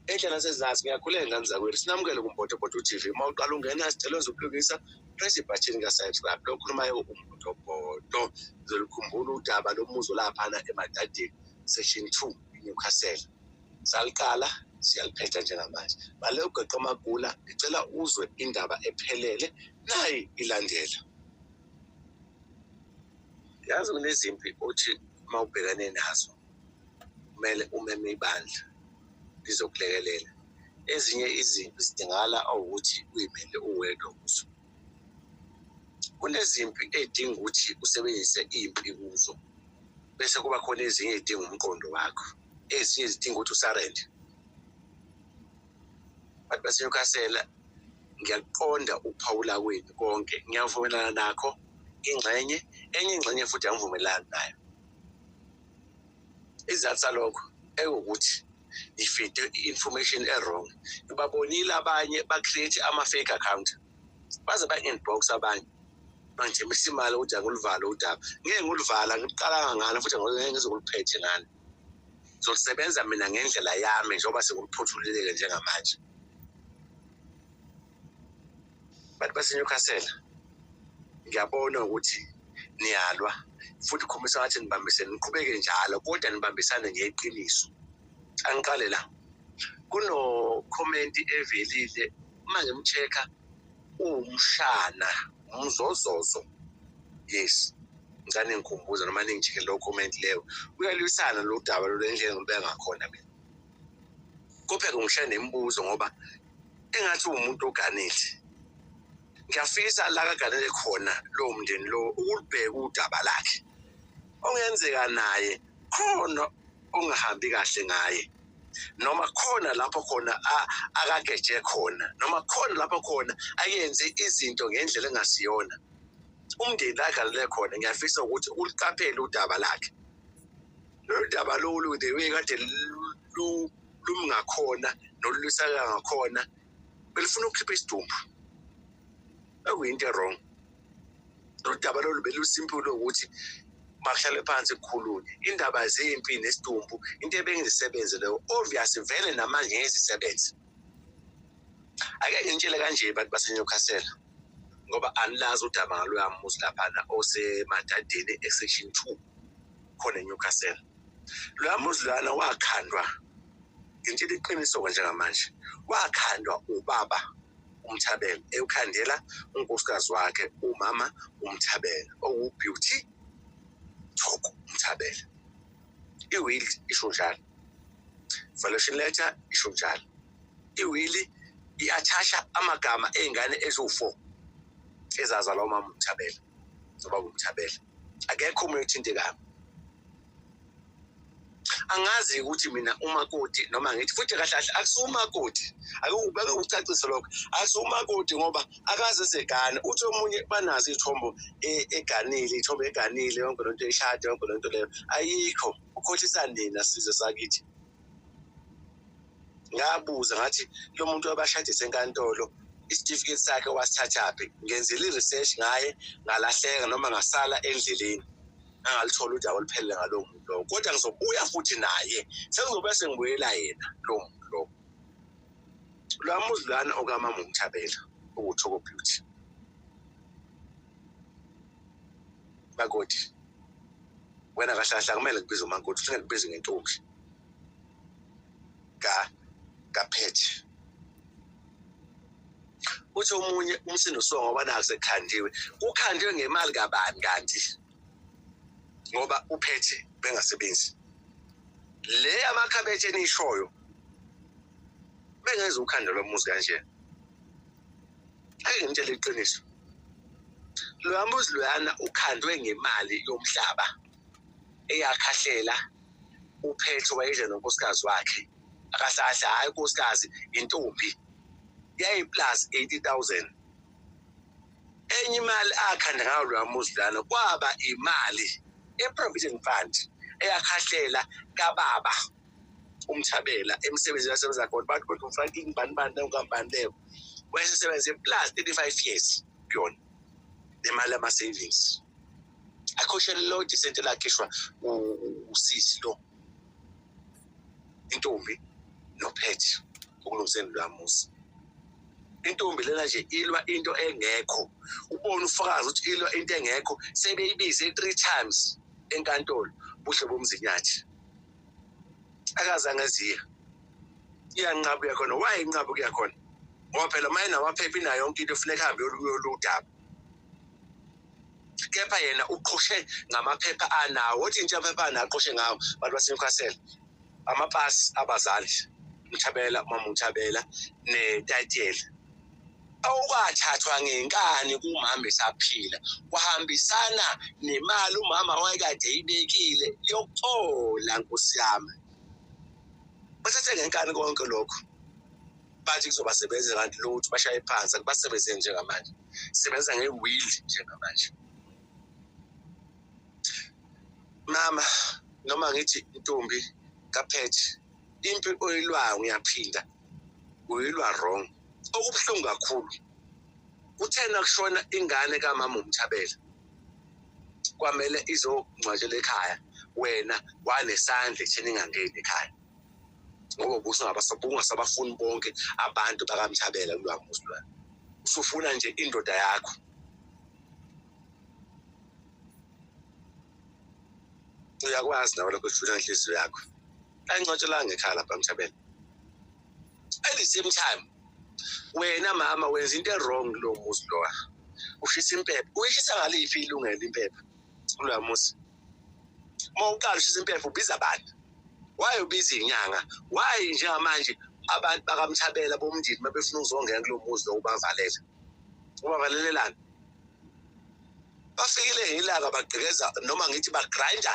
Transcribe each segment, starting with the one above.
enhle nasezansi ngiyakhuleka ngane zakwethu sinamukele kumbotobhoto tv uma uqala ungena sicela zokulungisa press ibhathini kasayisrap lokhulumayo umbotobhoto zolukhumbula udaba lomuzo laphana emadadeni section two inewcastle saliqala siyaliphetha njengamanje bale ugeqe amagula ngicela uzwe indaba ephelele nayi ilandela yazi kunezimpi othi uma ubhekane nazo kumele umeme ibandla lizokulekelela ezinye izimpi zidingala awukuthi uyimele uwedwa kuzo kunezimpi edinga ukuthi usebenzise impi kuzo bese kuba khona ezinye ezidinga umqondo wakho ezinye zidinga ukuthi usarende abantu basenyukasela ngiyakuqonda ukuphawula kwenu konke ngiyavumelana nakho ingxenye enye ingxenye futhi angivumelani nayo isizathu salokho ewukuthi ifide i-information e-wrong ibabonile abanye ba-create ama-fake account baze ba-inbox abanye manje misimali ukuthi anguluvalo udaba ngeke nguluvala ngiqalanga ngalo futhi ngeke ngizokuluphethe ngalo zosebenza mina ngendlela yami njengoba senguluphothululeke njengamanje bantu baseNewcastle ngiyabona ukuthi niyalwa futhi khombisa ngathi nibambisene niqhubeke njalo kodwa nibambisane ngeqiniso angiqale la kunokhomenti evelile uma ngimcheck-a uwumshana umzozozo yes ngicane ngikhumbuza noma ningicheke lowo comment leyo uyalwisana lo daba lolendlela ngibeka ngakhona mina kupheka ngishaye nemibuzo ngoba engathi uwumuntu oganile ngiyafisa la kaganele khona lowo mndeni lowo ukulibheka udaba lakhe ongenzeka naye khona ongahambi kahle ngaye noma khona lapho khona akageje khona noma khona lapho khona ayenze izinto ngendlela engasiyona umndeni la aganele khona ngiyafisa ukuthi uliqaphele udaba lakhe lolu daba lolu the way kade lumi ngakhona nolulwisaka ngakhona belifuna ukukhipha isidumbu akuyinto erong nodaba lolu belusimpulo ukuthi bakuhlale phansi kukhulunywe indaba zempi nesidumbu into ebengizisebenze leyo obvious vele namanje ngezisebenze ake ngintshele kanje bantu basenyokasela ngoba anilazi udaba ngaloya muzi laphana osemadadeni esection two khona eNewcastle loya muzi lana wakhandwa ngintshela iqiniso-ke njengamanje wakhandwa ubaba umthabela ewukhandela unkosikazi wakhe umama umthabela owubeauty thoko umthabela iwill isho njalo valuation letter isho njalo iwili i-athasha amagama ey'ngane eziwu-four ezazalwa umama umthabela zoba kumthabela akekho umuntu othintekayo angazi ukuthi mina umakoti noma ngithi futhi kahle kahle akusumakoti akubeke ukucacisa lokho akusumakoti ngoba akaze segane uthi omunye banazo iy'thombo e, eganile iy'thombo eganile yonke lento ishade yonke lento leyo ayikho ukhohlisa nina sizwe sakithi ngabuza ngathi lo muntu wabashadise enkantolo isitifiketi sakhe wasithathaphi ngenzile i-research ngaye ngalahleka noma ngasala endleleni angalithola udaba oluphelele ngalowo muntu lowo kodwa ngizobuya futhi naye sengizobe sengibuyela yena lowo muntu lowo lwa muzi lwana okamama umthabela okuthoko beauty makoti wena kahlahla kumele ngibize umankoti ufuna ngibize ngentombi ka kaphethe uthi omunye umsindo usuka ngoba naku sekukhandiwe kukhandiwe ngemali kabani kanti ngoba uphethe bengasebenzi le amakhabethe enishoyo bengeza ukhanda lomuzi kanjena Hey ngitshela iqiniso. Loya muzi loyana ukhandwe ngemali yomhlaba eyakhahlela uphethe wayedla nonkosikazi wakhe akasahle hayi unkosikazi intombi yayiplus 80000 enye imali akhanda ngayo loya muzi loyana kwaba imali eprovident fund eyakhahlela kababa umthabela emsebenzini asebenza khona bathi kodwa umfana ingibani bani leyo nkampani leyo wayesesebenze plus thirty five years kuyona nemali yama-savings akhoshele lo disente lakhishwa usisi lo intombi nophethe ukulungiseni lwa muzi intombi lena nje ilwa into engekho ubona ufakazi ukuthi ilwa into engekho sebeyibize three times enkantolo buhle bomzinyathi akazange ziya iyanqaba kuya khona why inqaba kuya khona ngoba phela uma enamaphepha inayo yonke into funeka hambe yoludaba kepha yena uqhoshe ngamaphepha anawo othi intsha amaphepha anawo aqhoshe ngawo abantu basenewcastle amapasi abazali mthabela umama mthabela netayitela okwathathwa ngenkani kumama esaphila kwahambisana nemali umama wayekade eyibekile yokuthola nkosi yami bathathe ngenkani konke lokho bathi kuzobasebenza kanti lo ukuthi bashaye phansi akubasebenze njengamanje sebenza ngewili njengamanje mama noma ngithi intombi kaphethe impi oyilwayo ngiyaphinda uyilwa wrong okubuhlungu kakhulu kuthena kushona ingane kamama umthabela kwamele izongcwatshela ekhaya wena wanesandla ekutheni ingangeni ekhaya ngoba ubusungabasabafuni bonke abantu bakamthabela kulwamuzi lwena usufuna nje indoda yakho uyakwazi nawe lokho ujula inhliziyo yakho ayincwatshelanga ekhaya lapha mthabela at the same time wena mama wenza into ewrong kulo muzi lowa ushisa impepha uyishisa ngaliphi ilungelo impepha kuloya muzi uma uqala ushisa impepha ubiza bani why ubiza inyanga why njengamanje abantu bakamthabela bomndini mabefuna ukuzongena kulo muzi lo ubavalele ubavalelelani bafikile yilaka bagqekeza noma ngithi bagrinda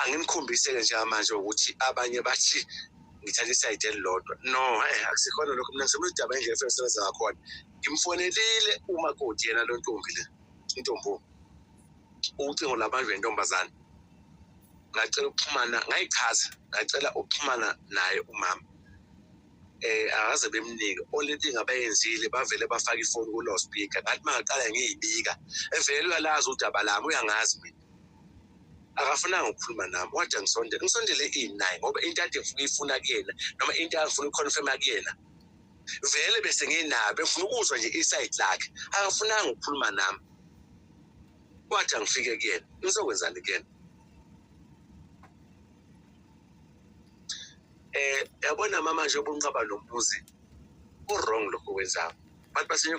anginikhombise-ke njengamanje ukuthi abanye bathi ngithatha isayidi elilodwa no eh, akusikhona lokho mina ngisemula udaba indlela efuna sebenza ngakhona ngimfonelile umakoti yena lo ntombi le intombi ucingo labantu bentombazane ngacela ukuxhumana ngayichaza ngacela ukuxhumana naye umama eh akaze bemnike only thing abayenzile bavele bafaka ifoni ku-low speaker ngathi mangaqala ngiyibika evele uyalazi udaba lami uyangazi mina akafunanga ukukhuluma nami wathi angisondele ngisondele ini naye ngoba into ade ngifuna uyifuna kuyena noma into angifuna uyiconfirma kuyena vele bese nginabo befuna ukuzwa nje isayidi lakhe akafunanga ukukhuluma nami wathi angifike kuyena ngizokwenzani kuyena eh yabona mama nje ubunqaba nomuzi ku wrong lokho wenzayo abantu basenyo